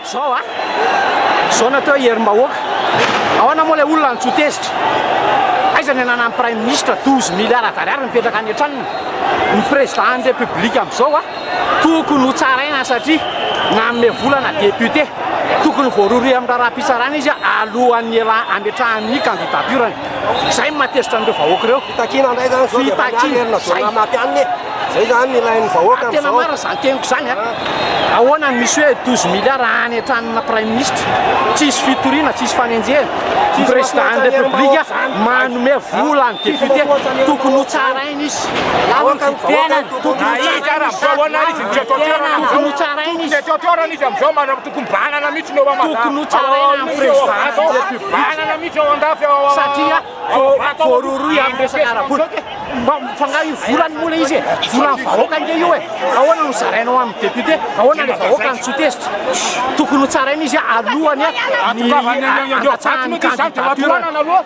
Zao a, zao natao herim-bahoaka. Ahoana moa ilay olona antsoa tezitra? Aiza ny ananan'ny praiminisitra 12 milliards d'ariary mipetraka any an-tranony? Ny président ny république amin'izao a, tokony ho tsaraina satria nanome vola na député. Tokony voarohirohy amin'ny raharaham-pitsarana izy alohan'ny hiala hametrahany ny candidature-ny. Izay no mahatezitra an'ireo vahoaka ireo. Fitakiana indray izany zao dia mamaly herina zao mamaty anona e. Izay izany ny ilain'ny vahoaka amin'izao. Tena marina izany teniko izany a. Ahoana no misy hoe 12 milliards any an-tranona praiminisitra. Tsy hisy fitoriana, tsy hisy fanenjehana. Ny président de la république manome vola an'ny député. Tokony ho tsaraina izy. Ahoana ny vahoaka no tokony ho tsaraina izy. Tokony ho tsaraina izy. Fikombanana mihitsy ny eo Amada. Tokony ho tsaraina amin'ny prezidanta ity aty Fikombanana mihitsy eo Andafy ao satria voarohirohy amin'ny resaka ara-bola. Mba fa nga io volany moa le izy e, volan'ny vahoaka nge io e, ahoana no zaraina ho an'ny député, ahoana le vahoaka no tsy ho tezitra. Tokony ho tsaraina izy alohan'ny handatsahany ny candidature.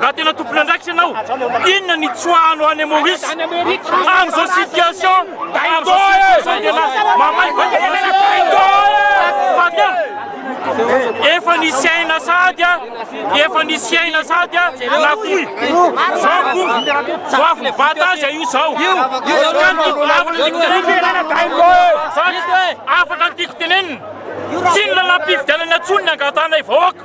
Raha tena tompon'andraikitra ianao, inona ny tsoahanao any Maurice? Amin'izao situation, amin'izao situation tena mamaivay efa nisy aina sady a, efa nisy aina sady a, na koy, zao ko, ho avy ny bata azy io zao, ka ny afaka ny tiko tenenina, afaka ny tiko tenenina, tsy ny lalam-pifidianana intsony ny angatanay vahoaka.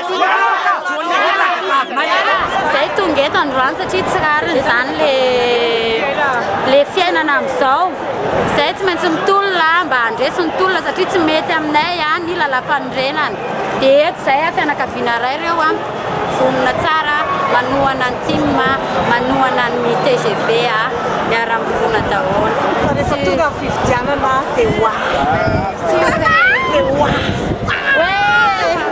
Zay tonga eto androany satria tsy rariny izany le le fiainana amin'izao. Zay tsy maintsy mitolona mba handresy ny tolona satria tsy mety aminay ny lalam-panorenana. Dia eto izay fianakaviana iray ireo vonona tsara manohana ny tim, manohana ny tgv, miara-mirona daholo. Fa rehefa tonga ny fifidianana dia hoaaa. Dia hoaaa.